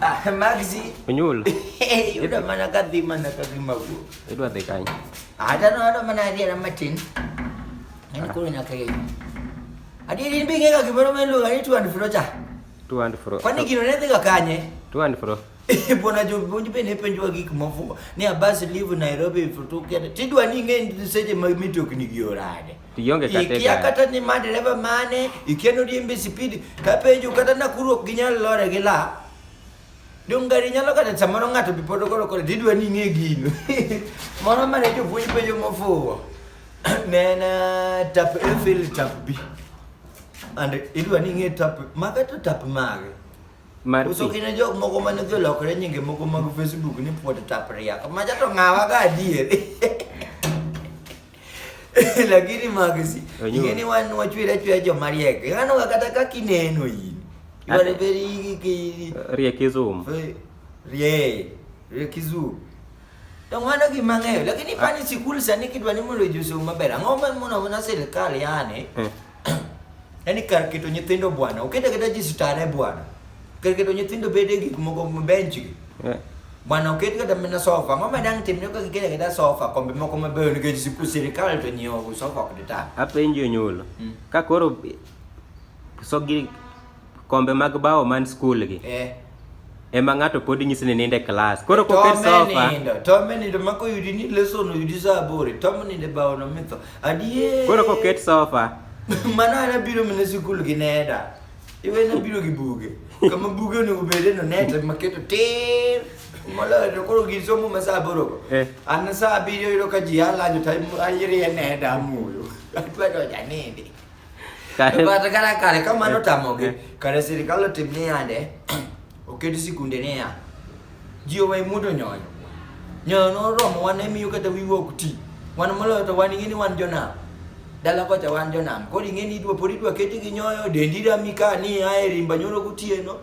Ah, Maxi. Unyul. Yuda mana kadhi mana kadhi magu. Idwa dhi kany. Ada no ada mana adhi na matin. Nani kuri na kage. Adi din bi kega kibero men luga ni tu and fro cha. Tu and fro. Kwani kino ne dhiga kanye? Tu and fro. Bona jo bonji be ne penjwa gik mafuko. Ni abas live Nairobi for two kende. Tidwa ni nge seche mag mitokni gi orade. Ionge kata ikia kata ni ma dereva mane, ikia ni odiembe speed, kapenjo kata Nakuru ok ginyal lore gi la. Dong gari nyalo kata samoro ng'ato bi pod ogolo kore didwa ni ing'e gino. Moro mane jopuonj penjo mofuwo. Ne en uh, tap A fail tap B. And idwa ni ing'e tap mage to tap mage. Mar Uso pi. kine jok moko mane dhi olokore nyinge moko mag Facebook ni puod tap riak. Maja to ng'awa ga adier. lakini magzi ingeni wanu wachwira chwira joma riek ngano kata kaka ineno in you are very riek izum rie riek izum to ng'ano gima ng'eyo lakini pani sikul sani kidwa ni mondo josom maber ang'o ma mono mana sirikal yani eh. Yaani kar keto nyithindo bwana, okete keta ji sitare bwana. Kar keto nyithindo bede gik moko bench gi. Yeah. Bwana oket kata mana sofa, ang'o ma dang' timne ka gikete kata sofa, kombe moko mabeyo nikech siku sirikal to nyiewo sofa ok dita. Apenjo nyulo. Mm. Ka koro so gi kombe mag bao man skul gi eh. ema ng'ato pod nyisi ni ninde klas koro koket sofa tome nindo mako yudi ni lesson yudi saa aboro tome ninde bao no mitho adiye koro koket sofa mano ana biro mine sikul gi neda iwe na biro gi buge kama buge onego bede no neta maketo tir moloyo to koro gin somo ma saa aboro go eh. an saa abiriyo yudo ka ji alanyo to ayiriye neda amuyo atwedo janindi Kare- But kata kare ka mano tamogi kare sirikal otim ni yande oket sikunde niya ji owe mudo nyoyo nyoyo noromo wan emiyo kata wiwa ok ti wan moloyo to wan ing'e ni wan jonam dala kocha wan jonam koro ing'e ni idwa pod idwa keti gi nyoyo dendi rami ka ni a e rimba nyoro gotieno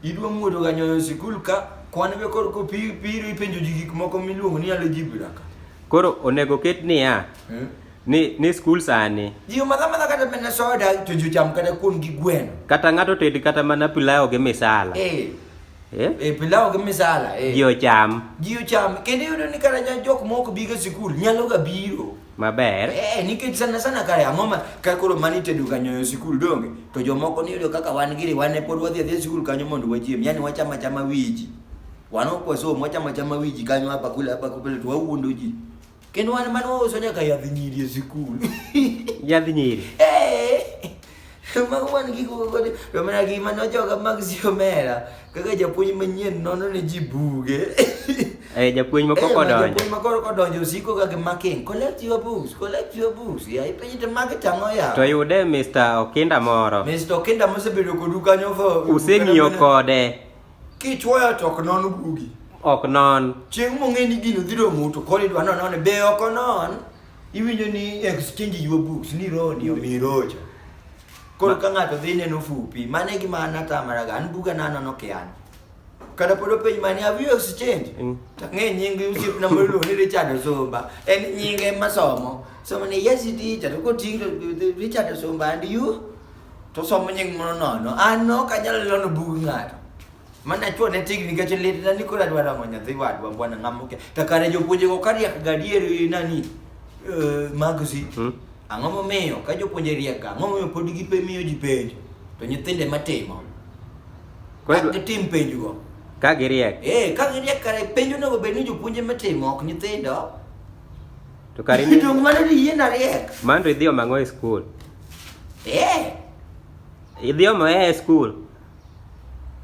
idwa muodo ga nyoyo e sikul ka kwan be koro kopiro ipenjo ji gik moko miluongo ni algebra ka koro onego ket niya Hmm? ni ni skul sani ji omadha madha kata mana soda to ji ocham kata kuon gi gweno kata ng'ato ted kata mana pilau gi misala eh eh eh pilau gi misala eh ji ocham ji ocham kendo iyudo ni kata ja- jok moko biga sikul nyalo ga biro maber eh nikech sana sana kare ang'o ma ka koro mani tedo ga nyoyo sikul donge to jomoko ni yudo kaka wan giri wan ne pod wadhi adhiya sikul kanyo mondo wachiem yani wacham achama wiji wan ok wasom wacham achama wiji kanyo hapa kule hapa kule to wawuondo ji Kendo wan mane wauso nyaka yadh nyiri e sikul. Yadh nyiri. Mago wan gigo kod to mana gi mano joga mag Siomera kaka japuonj manyien nono ne ji buge. Eh japuonj ma koko donjo. Japuonj ma koko donjo siko ga making. Collect your books, collect your books. Ya ipenji to mag tang'o ya. To yude Mr. Okinda moro. Mr. Okinda mosebedo kodu kanyo for. Useng'iyo kode. Kichwoyo to ok non gugi. Ok non. Chieng' mong'e ni gino dhi romo to koro idwa nono ni be ok onon. Iwinjo ni exchange your books ni roni omi rocha. Koro ka ng'ato dhi neno fupi, mano e gima an atamaraga, an buga na anono kian. Kata pod openj mani have you exchange? Mm. To ang'e nying osiepna moro iluongo ni Richard Osumba, en nyinge masomo. So mani yes it is, to koting'o Richard Osumba and you? to somo nying mono nono an no kanyalo lono bug ng'ato mana chuo ne tig nikech lit na ni kora dwara mo nyathi wadwa bwana ngamuke to kare jopuonje go kariak gadier nani eh, magzi Hmm? ang'o momiyo ka jopuonje riek ga ang'o momiyo pod gipe miyo ji penjo to nyithinde matimo Koro idwa- gitim penjo go ka giriek eh ka giriek kare penjo onego bed ni jopuonje matimo ok nyithindo To kare ni Donge mano ni yie na riek. Mandri idhi omo ang'o e skul? Eh, Idhi omo e skul?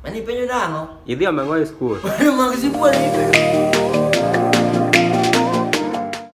mani penjo nang'o? Idhi omo ang'o e skul? Mano mag sibuor ni penjo.